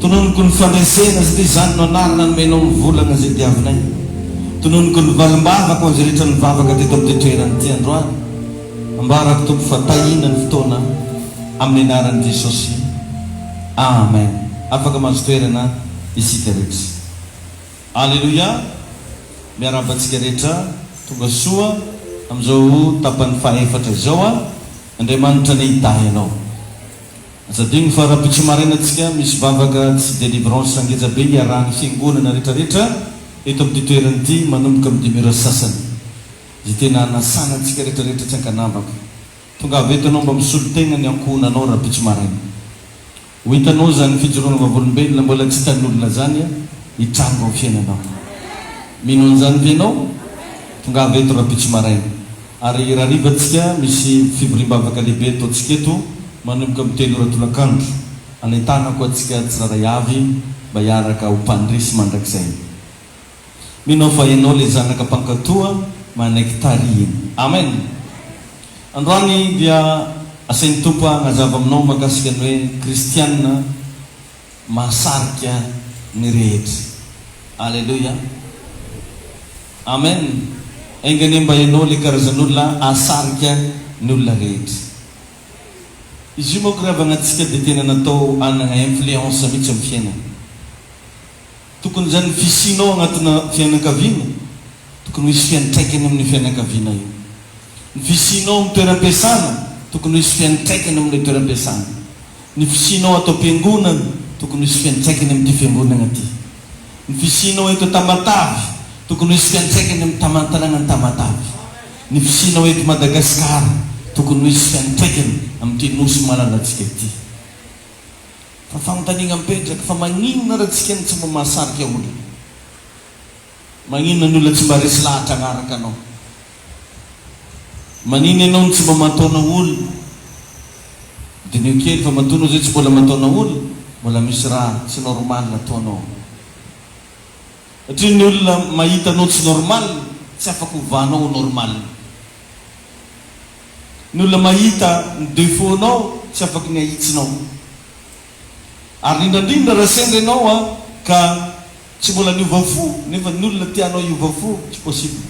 Tononiko ny fandresena satria izany no anarana nomenao ny volana izay diavinay. Tononiko ny valim-bavako ho azy rehetra nivavaka teto amin'ity toerana ity androany. Ambarako Tompo fa tahiana ny fotoana amin'ny anaran'i Jesosy. Amen. Afaka mahazo toerana isika rehetra. Aleloia. Miarahaba antsika rehetra tonga soa amin'izao tapany faha efatra izao. Andriamanitra nidahy anao. Aza adino fa rabitso maraina tsika misy vavaka sy delivrance ngeja be iarahan'ny fiangonana retra retra eto amin'ity toerana ity manomboka amin'ny dimy ora sasany Izay tena hanasana antsika retra retra tsy ankanavaka tongava eto ianao mba misolo tegna ny ankohonanao rabitso maraina Ho hitanao zany fijoroana vavolombelona mbola tsy hitan'olona zany hitranga ao fiainanao Mino an'izany ve ianao? Tongava eto rabitso maraina. Ary raha hariva tsika misy fivoriam-bavaka lehibe ataontsika eto manomboka amin'ny telo ora tolakandro, anentana koa antsika tsirairay avy mba hiaraka ho mpandresy mandrakizay. Mino aho fa ianao ilay zanaka mpankatoa manaiky tarihina. Amen! Androany dia asain'ny Tompo hanazava aminao mahakasika ny hoe Kristiana. mahasarika ny rehetra. Aleloia. Amen. Enga anie mba ianao ilay karazan'olona hahasarika ny olona rehetra. Izy io manko raha avy agnatintsika dia tena natao hanagna influence mihitsy amin'ny fiainana. Tokony izany ny fisianao agnatina fiainan-kaviana, tokony ho hisy fiantraikany amin'ny fiainan-kaviana io. Ny fisianao amin'ny toeram-piasana, tokony ho hisy fiantraikany amin'ilay toeram-piasana. Ny fisianao ato am-piangonana, tokony ho hisy fiantraikany amin'ity fiangonagna ity. Ny fisianao eto Tamatave, tokony ho hisy fiantraikany amin'ny taman-tanànan'i Tamatave. Ny fisianao eto Madagasikara, tokony ho hisy fiantraikany amin'ity Nosy malalantsika ity. Fa fanontaniagna mipetraka, fa maninona ra tsika no tsy mba mahasarika olona? Maninona ny olona tsy mba resy lahatra agnaraka anao? Maninona enao no tsy mba mantôna olona? Diniho kely fa matoa anao zay tsy mbôla mantôna olona, mbôla misy raha tsy normal ataonao. Satria ny olona mahita anao tsy normal, tsy afaka ovanao ho normal. Ny olona mahita ny defaut-nao tsy afaky ny ahitsinao. Ary rindrandrindra raha sendra ianao ka tsy mbola niova fo nefa ny olona tianao hiova fo, tsy possible.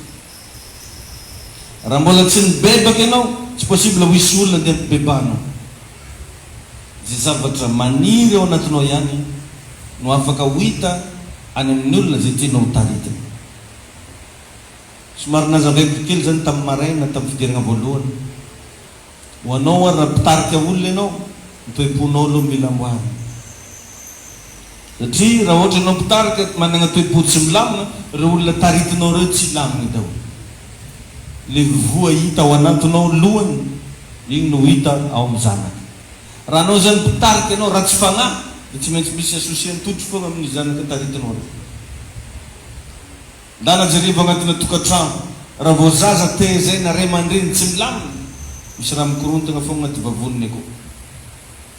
Raha mbola tsy nibebaka ianao, tsy possible ho hisy olona andeha hampibebahanao. Izay zavatra maniry ao anatinao ihany no afaka ho hita any amin'ny olona izay tianao hotaritiny. Somary nazavaiko kely izany tamin'ny maraina tamin'ny fidirana voalohany. Ho anao ary raha mpitarika olona ianao, ny toe-ponao aloha no mila amboarina. Satria raha ohatra ianao mpitarika manana toe-po tsy milamina, ireo olona taritinao ireo tsy hilamina daholo. Ilay voa hita ao anantinao lohany, iny no ho hita ao amin'ny zanaka. Raha hanao izany mpitarika ianao ratsy fanahy, dia tsy maintsy misy associer an-totry foana amin'ireo zanaka taritinao ireo. Ndana jereo anatina tokatrano raha vao zaza tehezaina ray amandreny tsy milamina misy raha mikorontana foana anaty vavoniny akao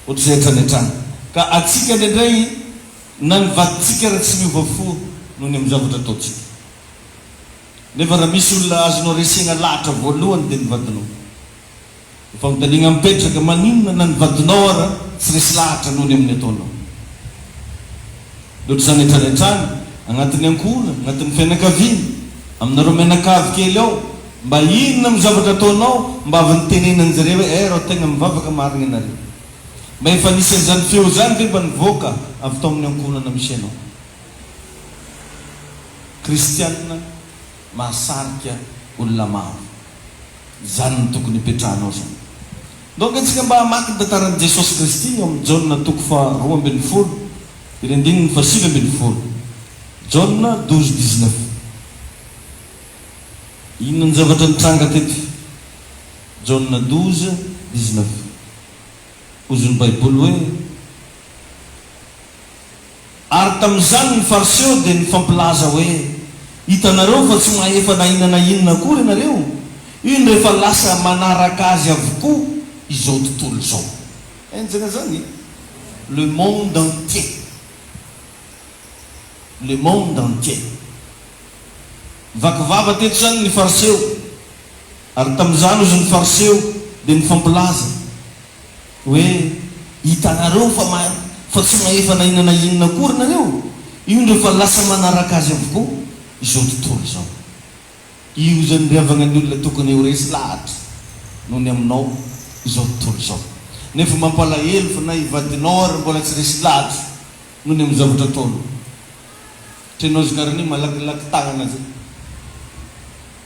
ohatr'izay hatrany hatrany ka atsika indraindray na ny vadintsika ary tsy miova fo noho ny amin'ny zavatra ataontsika nefa raha misy olona azonao resena lahatra voalohany dia ny vadinao Ny fanontaniana mipetraka, maninona na ny vadinao ara tsy resy lahatra noho ny amin'ny ataonao? Loatra izany retraretrany, anatin'ny ankohona, anatin'ny fianakaviana, aminareo mianakavy kely ao, mba inona no zavatra ataonao mba avy nitenenan'i zareo hoe eh rao tegna mivavaka marigny anareo? Mba efa nisy an'izany feo izany ve mba nivoaka avy tao amin'ny ankohonana misy anao? Kristiana. Mahasarika olona maro. Izany no tokony hipetrahanao izany. Naoka antsika mba hamaky ny tantaran'i Jesosy Kristy ao amin'ny Jaona toko faha roa ambin'ny folo sy ny andininy faha sivy ambin'ny folo. Jaona douze dix neuf. Inona ny zavatra nitranga teto? Jaona douze dix neuf. Hozon'ny Baiboly hoe. Ary tamin'izany ny Fariseo dia nifampilaza hoe, Hitanareo fa tsy mahefa na inona na inona akory ianareo, iny rehefa lasa manaraka azy avokoa izao tontolo izao. Enjana izany e! Le monde entier. Le monde entier. Nivaky vava teto izany ny Fariseo. Ary tamin'izany hozy ny Fariseo dia nifampilaza. Hoe, Hitanareo fa mahay, fa tsy mahefa na inona na inona akory nareo? Io indreo fa lasa manaraka azy avokoa izao tontolo izao. Io izany ry havagna ny olona tokony ho resy lahatra noho ny aminao izao tontolo izao. Nefa mampalahelo fa na i vadinao ary mbola tsy resy lahatra noho ny amin'ny zavatra ataonao. Trenao zkarany malakilaky tagnana zay.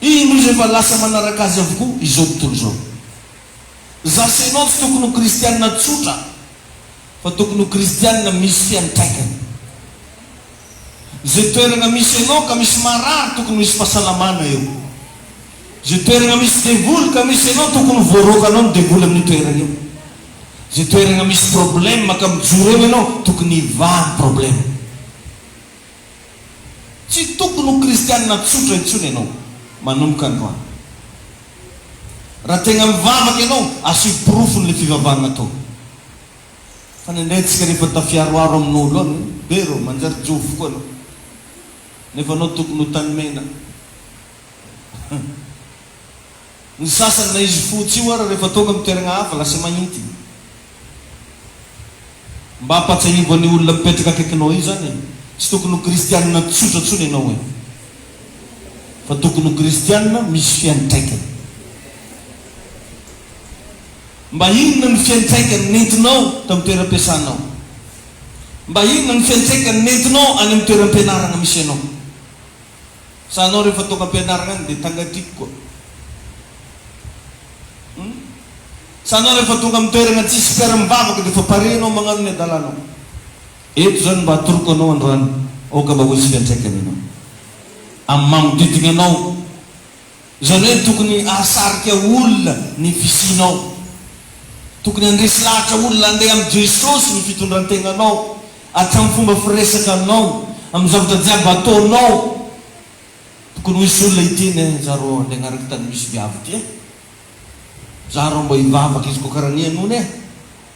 Indro izy efa lasa manaraka azy avokoa izao tontolo izao. Za sy ianao tsy tokony ho kristianina tsotra fa tokony ho kristianina misy fiantraikany. Ze toerana misy ianao ka misy marary tokony misy fasalamana eo. Ze toerana misy devoly ka misy ianao tokony ho voaroakanao ny devoly amin'io toerana io. Ze toerana misy problème ka mijoro eo ianao tokony hivaha ny problème. Tsy tokony ho kristianina tsotra intsony ianao manomboka androany. Raha tegna mivavaka ianao, asio porofony le fivavahagna ataonao. Fa ny indray antsika rehefa tafiaroaro amin'olo an, be rô, manjary jofo koa anao. Nefa anao tokony ho tanimena. Ny sasany na izy fotsy io ary rehefa tonga amin'ny toeragna hafa lasa mahinty. Mba ampatsiahivo an'io olona mipetraka akaikinao io zany e, tsy tokony ho kristianina tsotra tsony ianao e, fa tokony ho kristianina misy fiantraikany. Mba inona ny fiantraikany nentinao tamin'ny toeram-piasanao? Mba inona ny fiantraikany nentinao any amin'ny toeram-pianaragna misy anao? Sa anao rehefa tonga am-pianarana any dia tangatiako koa? Hum? Sa anao rehefa tonga amin'ny toerana tsisy mpiara-mivavaka dia efa pare ianao magnano ny adalanao? Eto izany mba atoroko anao androany, aoka mba ho isika antraikany ianao amin'ny manodidina anao. Izany hoe tokony hahasarika olona ny fisianao. Tokony handresy lahatra olona handeha amin'i Jesosy ny fitondran-tenanao, hatramin'ny fomba firesakanao, amin'ny zavatra jiaby ataonao. Tokony ho hisy olona hiteny hoe, Izaho rô handeha hanaraka tany misy viavy ity e! Izaho rô mba hivavaka izy koa karaha ny henoina e!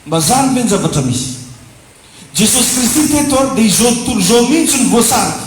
Mba zany ve ny zavatra misy? Jesosy Kristy teto dia izao tontolo izao mihitsy no voasarika.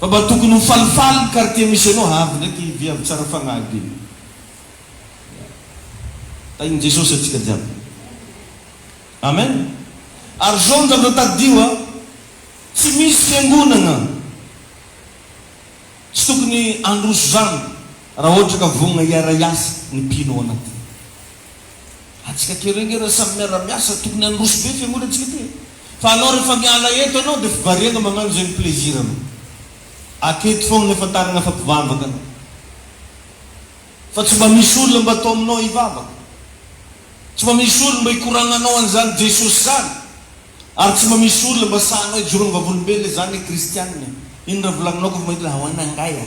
Fa mba tokony ho falifaly ny quartier misy anao ha avy ndraiky i viavy tsara fagnahy be ya tahin'i Jesosy atsika jiaby amen ary zao ny zavatra tadidio a tsy misy fiangonagna tsy tokony handroso zany raha ohatra ka vognona hiara hiasa ny mpino ao anatiny. Atsika aty renge ra samy miara miasa tokony handroso be fiangonana tsika ty e! Fa anao refa miala eto anao de fivariagna magnano zay ny plaisir anao! Aketo fogna efa taragna fa mpivavaka anao! Fa tsy mba misy olona mba atao aminao hivavaka! Tsy mba misy olona mba hikoragnanao an'izany Jesosy zany! Ary tsy mba misy olona mba sahanao hijoroagna vavolombelona izany e! Kristianina e! Ino ra volagninao kofa mahita le ahoana angahy a!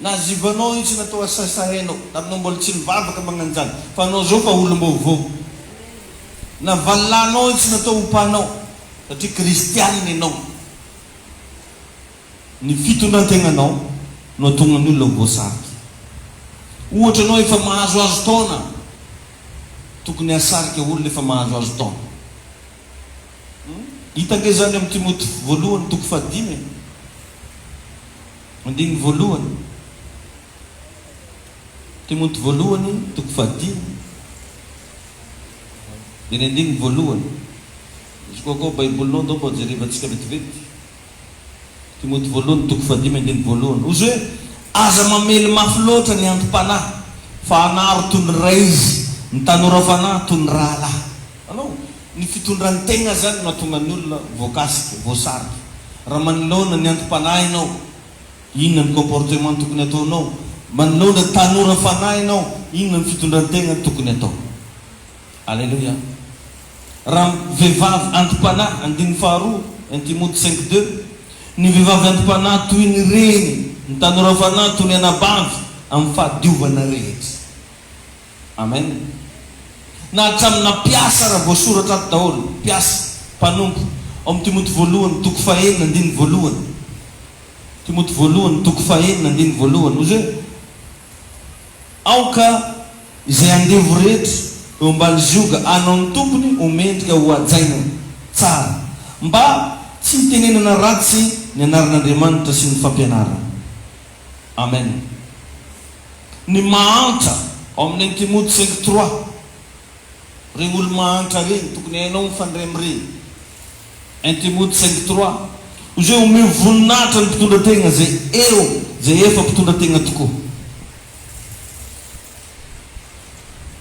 Na Zibano io tsy natao asasa hainao na anao mbola tsy nivavaka magnanjany fa anao zao fa olombaovao. Na valilahynao io tsy natao ho panao satria kristianina enao. Ny fitondrantegnanao no atonga ny olona ho voasarika. Ohatra anao efa mahazoazo taona tokony hahasarika olona efa mahazoazo taona. Hita nge zany am Timoty voalohany toko fahadimy e. Andininy voalohany, Timoty voalohany, toko fahadimy, dia ny andininy voalohany. Izy koa koa Baibolinao ndao mba jerevantsika vetivety. Timoty voalohany, toko fahadimy, andininy voalohany. Ozy hoe, Aza mamely mafy loatra ny anti-panahy, fa anaro toy ny ray izy, ny tanora fanahy toy ny rahalahy. Anao? Ny fitondran'ny tegna zany no mahatonga ny olona voakasika, voasarika. Raha manoloana ny anti-panahy ianao, inona ny comportement no tokony ataonao? Manoloana tanora fanahy ianao, inona ny fitondran-tegna no tokony atao? Aleloia! Raha vehivavy anti-panahy, andininy faharoa, un Timoty cinq deux, ny vehivavy anti-panahy toy ny reny, ny tanora fanahy toy ny anabavy, amin'ny fahadiovana rehetra. Amen! Na hatramin'ny na mpiasa ara voasoratra ato daholo, mpiasa, mpanompo, ao amin'ny Timoty voalohany toko faha enina andininy voalohany, Timoty voalohany toko faha enina andininy voalohany, hoy izay, Aoka izay andevo rehetra eo ambany zioga hanao ny tompony ho mendrika ho hajaina tsara, mba tsy hitenenana ratsy ny anaran'Andriamanitra sy ny fampianarana. Amen. Ny mahantra ao amin'ny Intimodo cinq trois, reny olo mahantra reny tokony hainao mifandray amin'ireny. Intimodo cinq trois, Koa izay omeo voninahitra ny mpitondra tegna izay eo, izay efa mpitondra tegna tokoa.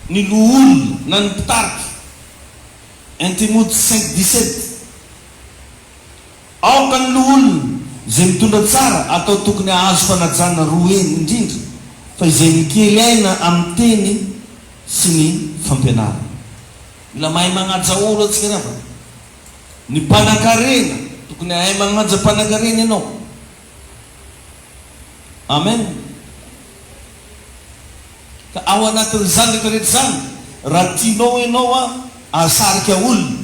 Ny loholona na ny mpitarika. Intimodo cinq dix sept. Aoka ny loholona izay mitondra tsara atao tokony hahazo fanajana roa heny indrindra fa izay mikely aina amin'ny teny sy ny fampianarana. Mila mahay manaja olo antsika ry havana. Ny mpanan-karena, tokony hahay manaja mpanan-karena ianao. Amen! Ka ao anatin'izany rehetra rehetra izany, raha tianao ianao hahasarika olona,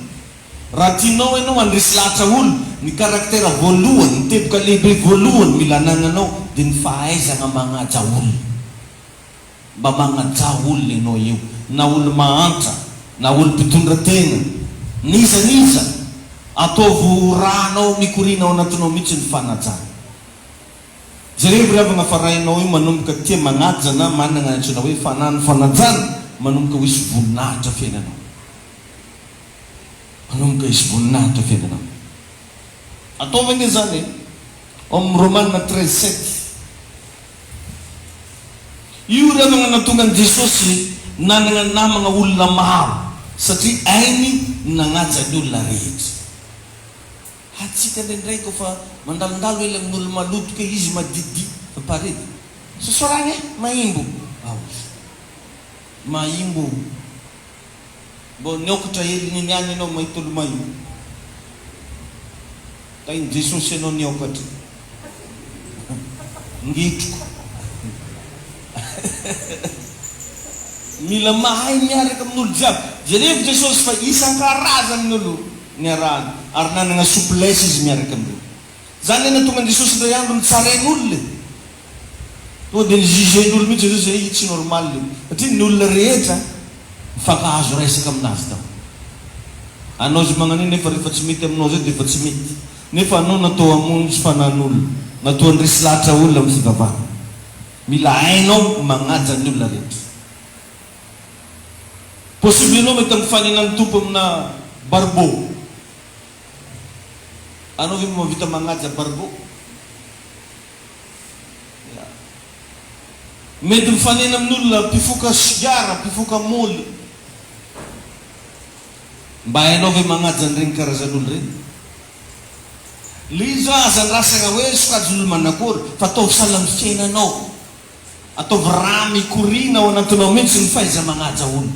raha tianao ianao handresy lahatra olona, ny karaktera voalohany, ny teboka lehibe voalohany mila anagnanao dia ny fahaizana magnaja olona. Mba magnajà olona ianao eo, na olo-mahantra, na olo-mpitondra tegna, n'iza n'iza. Ataovy ho rànao mikoriana ao anatinao mihitsy ny fanajana. Jerevo ry havagna fa rainao io manomboka tia magnaja na managna ny antsoina hoe fanahin'ny fanajana manomboka ho hisy voninahitra fiainanao. Manomboka hisy voninahitra fiainanao. Ataovy ange zany e. Ao amin'ny Romana treize sept, Io indray no nanatonga an'i Jesosy nanana namana olona maro, satria hainy ny nanaja ny olona rehetra. Ha antsika indraindray koa fa mandalondalo ely amin'olo-maloto kely izy madidi pare. Sosoragna e! Mahimbo! Aoka. Mahimbo. Mbô niôkatra hely nony any enao may tolomay o! Tahin'i Jesosy enao niôkatra ngitroko hehehehe Mila mahay miaraka amin'olo jiaby. Jerevo Jesosy fa isan-karazany ny olo niarahany ary nanagna souplesse izy miaraka amin'ireo. Zany le nahatonga an'i Jesosy indray andro nitsarain'olo e! Tonga dia ni-juger ny olona mihitsy Jesosy hoe io tsy normal io, satria ny olona rehetra mifankahazo resaka aminazy tao. Anao izay magnan'io nefa rehefa tsy mety aminao izay dia efa tsy mety. Nefa anao natao hamonjy fanan'olona, natao handresy lahatra olona amin'ny fivavahana. Mila hainao magnaja ny olona rehetra. Possible ianao mety mifanena amin'ny Tompo amina barbeau. Anao ve mba mahavita magnaja barbeau? Mety mifanena amin'olona mpifoka sigara, mpifoka moly. Mba hainao ve magnaja an'ireny karazan'olo ireny? Le izy zao aza andrasagna hoe sokajin'olo manakory fa ataovy sahala amin'ny fiainanao. Ataovy rà mikoriana ao anatinao mihitsy ny fahaiza-magnaja olo.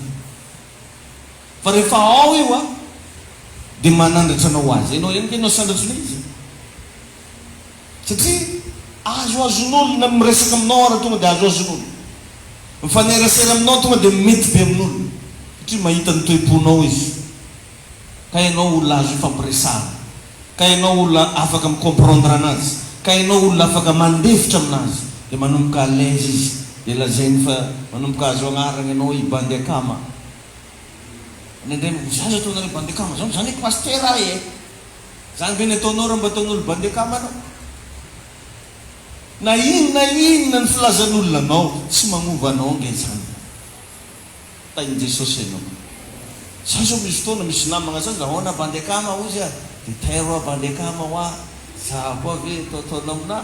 Fa rehefa ao io a, dia manandratra anao ho azy. Enao ihany ve no sandratra ilay izy? Satria azoazon'olona ny miresaka aminao ary tonga dia azoazon'olona mifanerasera aminao, tonga dia mety be amin'olona satria mahita ny toe-ponao izy ka ianao olona azo ifampiresahana, ka ianao olona afaka mi-comprendre anazy, ka ianao olona afaka mandefitra aminazy dia manomboka à l'aise izy dia lazainy fa manomboka azo agnarana ianao hoe i bandy akama. Any an-dRenivohizanjy atoa nareo bandy akama zany, zany hoe pasitera ahy e! Zany ve ny ataonao raha mba ataon'olo bandy akama anao? Na ino na inona ny filazan'olona anao tsy magnova anao nge zany. Tahin'i Jesosy anao. Za zao misy fotoana misy namagna zany ahoana bandy akama hozy ah de tairo ah bandy akama ho ah za koa ve atao ataonao aminah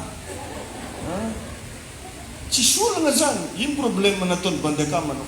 ah tsisy olagna zany ino probleme nataon'i bandy akama anao?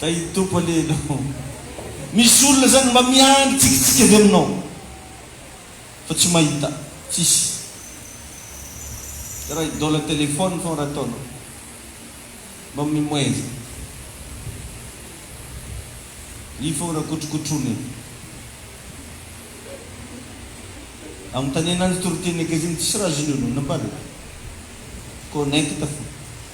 Kay i Tompo anie ianao. Misy olona zany mba miandry tsikitsiky avy aminao fa tsy mahita. Tsisy. Raha idole telephone foagna raha ataonao. Mba mimoezy. Io foagna raha kotrokotroina io. Anontaniana ny toriteny akaiza iny tsisy raha azon'io anao. Nambarako. Connect foagna.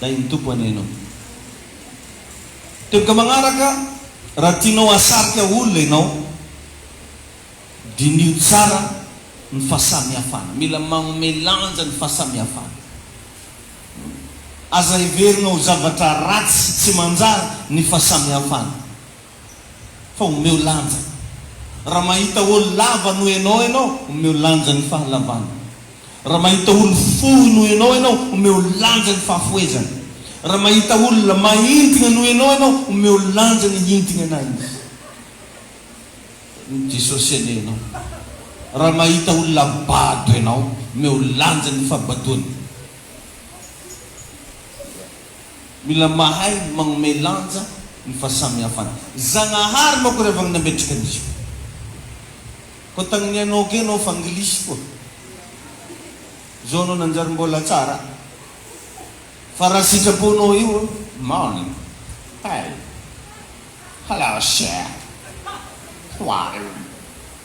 Ilay ny Tompo anie ianao. Teboka magnaraka, raha tianao hahasarika olona ianao, diniho tsara ny fahasamihafana. Mila magnome lanja ny fahasamihafana. Aza heverina ho zavatra ratsy sy tsy manjary ny fahasamihafana. fa omeo lanja. Raha mahita olo lava noho enao enao, omeo lanja ny fahalavany. Raha mahita olo fohy noho enao enao, omeo lanja ny fahafohezany. Raha mahita olona mahintigna noho enao enao, omeo lanja ny hintignanay izy. Ny Jesosy anie enao. Raha mahita olona bado enao, omeo lanja ny fahabadoany. Mila mahay magnomey lanja ny fahasamihafana. Zagnahary manko ry havagny nametraka an'izao. Koa tagninianao kea anao fa anglisy koa. Zao anao nanjary mbola tsara. Fa raha sitraponao io morning, hey, hello sir, how are you?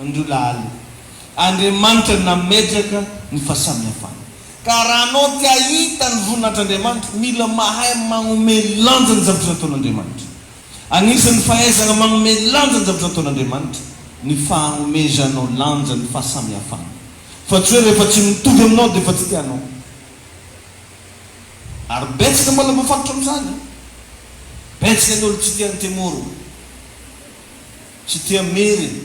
Andriolaly. Andriamanitra nametraka ny fahasamihafana. Ka raha anao te hahita ny voninahitr'Andriamanitra, mila mahay magnome lanja ny zavatra nataon'Andriamanitra. Agnisan'ny fahaizagna magnome lanja ny zavatra nataon'Andriamanitra ny fahagnomezanao lanja ny fahasamihafana. Fa tsy hoe rehefa tsy mitovy aminao dia efa tsy tianao. Ary betsaka mbola voafatotra amin'izany. Betsaka ny olo tsy tian'i Temoro. Tsy tia Merina.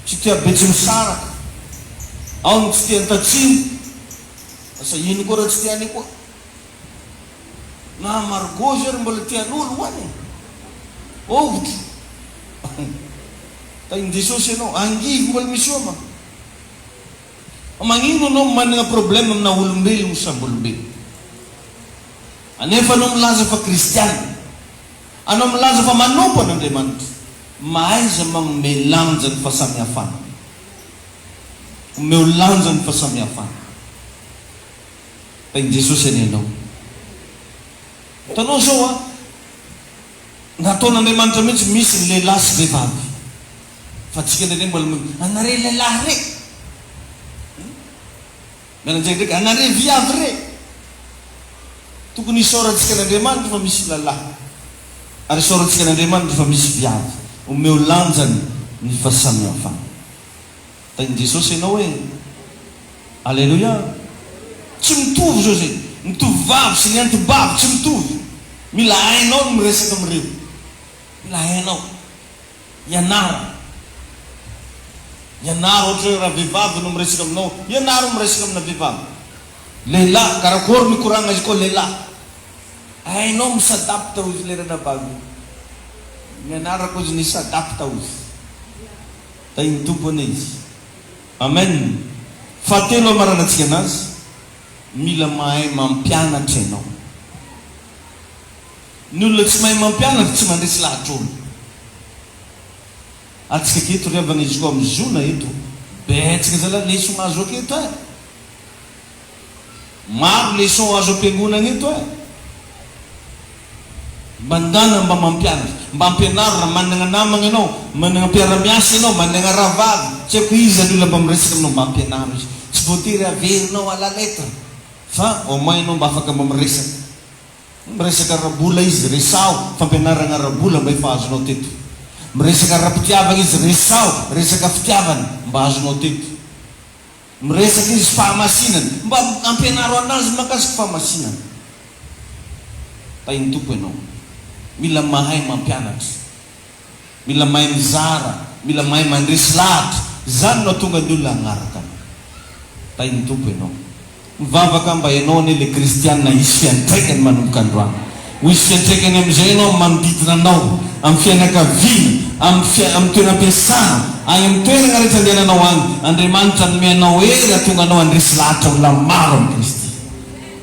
Tsy tia Betsimisaraka. Ao ny tsy tia Antatsimo. Asa ino koa ra tsy tia any koa. Na Margot zao ry mbola tian'olo ho any e. Ohatra. Tahin'Jesosy ianao. Angivy mbola misy oma. Fa magnino anao managna problème amina olombelogno sambolombelogno. Anefa anao milaza fa kristiana. Anao milaza fa manompo an' Andriamanitra, mahaiza manome lanja ny fahasamihafana. Omeo lanja ny fahasamihafana. Fa i Jesosy anie ianao. Hitanao izao an, nataon' Andriamanitra mihitsy misy ny lehilahy sy vehivavy. Fa antsika indraindray mbola mino, anareo lehilahy re. Mianadahy ndraiky ana re viavy re! Tokony hisaorantsika an'Andriamanitra fa misy lalahy ary hisaorantsika an'Andriamanitra fa misy viavy omeo lanjany ny fasamihafana. Tahin'i Jesosy ianao e! Aleloia! Tsy mitovy izao izay ny tovovavy sy ny antibavy tsy mitovy. Mila hainao ny miresaka amin'ireo. Mila hainao. Ianarana. Ianaro ohatra hoe raha vehivavy no miresaka aminao, ianaro miresaka amina vehivavy. Lehilahy, karakôry mikoragna izy koa lehilahy. Hainao mi-s'adapte hozy le ranabavy io. Nianarako hozy ni-s'adapte hozy. Tahin'ny Tompo anie izy. Amen. Fahatelo hamaranantsika anazy, mila mahay mampianatra ianao. Ny olona tsy mahay mampianatra tsy mandresy lahatra olona. Atsika aketo ry havana izy koa mizona eto betsaka zala leson azo aketo eh. Maro leson azo ampiangonana eto eh. Mba ndana mba mampianatra. Mba ampianaro raha managna namagna enao, managna mpiaramiasa enao, managna rahavavy, tsy aiko iza ny olona mba miresaka aminao mba ampianaro izy. Tsy voatery averinao à la lettre fa au moins enao mba afaka mba miresaka. Miresaka ara-bola izy, resaho fampianarana ara-bola mba efa azonao teto. Miresaka ara-pitiavana izy, resaho resaka fitiavana mba azonao teto. Miresaka izy fahamasinana, mba ampianaro anazy mahakasika fahamasinana. Tahin'ny Tompo ianao. Mila mahay mampianatra. Mila mahay mizara, mila mahay mandresy lahatra. Izany no hahatonga ny olona hanaraka anao. Tahin'ny Tompo ianao. Mivavaka aho mba ianao anie ilay kristiana hisy fiantraikany manomboka androany. Ho hisy fiantraikany amin'izay ianao amin'ny manodidina anao, amin'ny fianakaviana, amin'ny amin'ny toeram-piasana, any amin'ny toerana rehetra andehananao any. Andriamanitra hanome anao hery hahatonga anao handresy lahatra olona maro amin'i Kristy.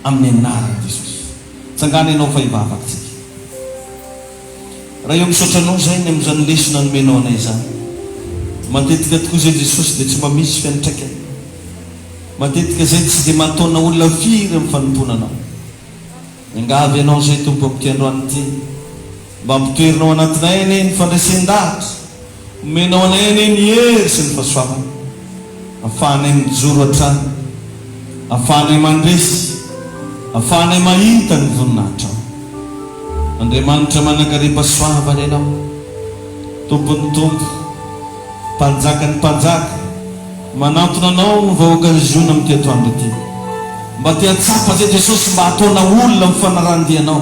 Amin'ny anaran'i Jesosy. Tsangana ianao fa hivavaka isika. Raio misaotra anao zahay ny amin'izany lesona nomenao anay izany. Matetika tokoa izay Jesosy dia tsy mba misy fiantraikany. Matetika izay tsy dia mahataona olona firy amin'ny fanompoana anao. Miangavy ianao izay Tompo amin'ity androany ity. Mba ampitoerinao anatinay anie ny fandresen-dahatra. Omenao anay anie ny hery sy ny fahasoavana, afahanay mijoro hatrany, afahanay mandresy, afahanay mahita ny voninahitrao. Andriamanitra manankarem-pahasoavana Ianao, Tompon'ny tompo, Mpanjakan'ny mpanjaka, manantona Anao ny vahoakan'i Ziona amin'ity atoandro ity. Mba te hahatsapa an'izay Jesosy, mba hataona olona amin'ny fanarahan-dianao.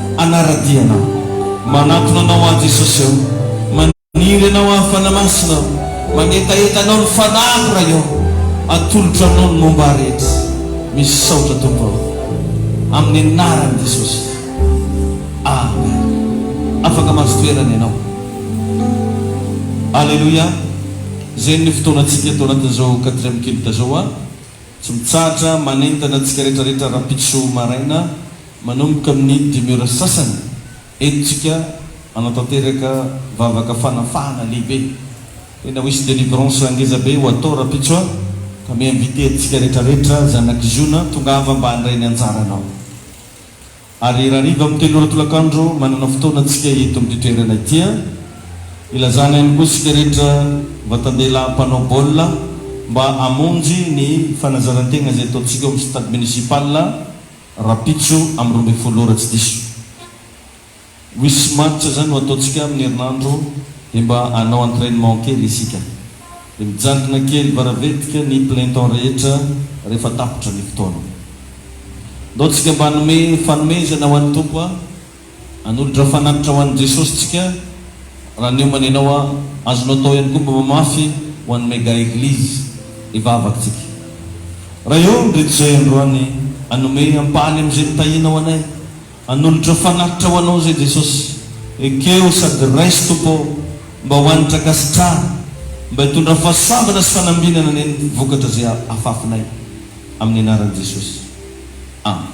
Hanara-dia anao. Manantona anao aho Jesosy ô. Maniry anao aho Fanahy Masina ô. Mangetaheta anao ny fanahiko Ray ô. Atolotro aminao ny momba ahy rehetra. Misaotra Tompo aho. Amin'ny anaran'i Jesosy. Amen. Afaka mahazo toerana ianao. Aleloia. Zay ny fotoanantsika eto anatin'izao quatrième culte zao. Tsy mitsahatra manentana antsika rehetra rehetra rahampitso maraina Manomboka amin'ny dimy ora sasany, entintsika hanatanteraka vavaka fanafahana lehibe. Tena ho hisy délivrance ngeza be ho atao rampitso a! Ka mi-inviter antsika rehetrarehetra zanak'i Ziona, tongava mba handray ny anjaranao. Ary rahariva amin'ny telo ora tolakandro, manana fotoana antsika eto amin'ity toerana ity a! Ilazana ihany koa isika rehetra vatan-dehilahy mpanao baolina mba hamonjy ny fanazaran-tegna izay ataontsika ao amin'ny stade municipal. Rahampitso amin'ny roa ambin'ny folo ora tsy diso. Wish match zany no ataontsika amin'ny herinandro dia mba hanao entrainement kely isika. Dia mijanona kely varavetika ny plein temps rehetra rehefa tapitra ny fotoana. Ndao tsika mba hanome fanomezana ho an'ny Tompo a! Hanolotra fanatitra ho an'i Jesosy tsika raha niomana ianao ah. Azonao atao ihany koa mba mamafy ho an'i Mega Eglise ny vavaka tsika. Raha eo ny Ritozay androany hanome ampahany amin'izay nitahianao anay. Hanolotra fanatitra ho anao izay Jesosy. Ekeo sady raiso Tompo oh mba ho an'i Trakasitraha mba hitondra fahasoavana sy fanambinana neny vokatra izay afafinay. Amin'ny anaran'i Jesosy. Amen.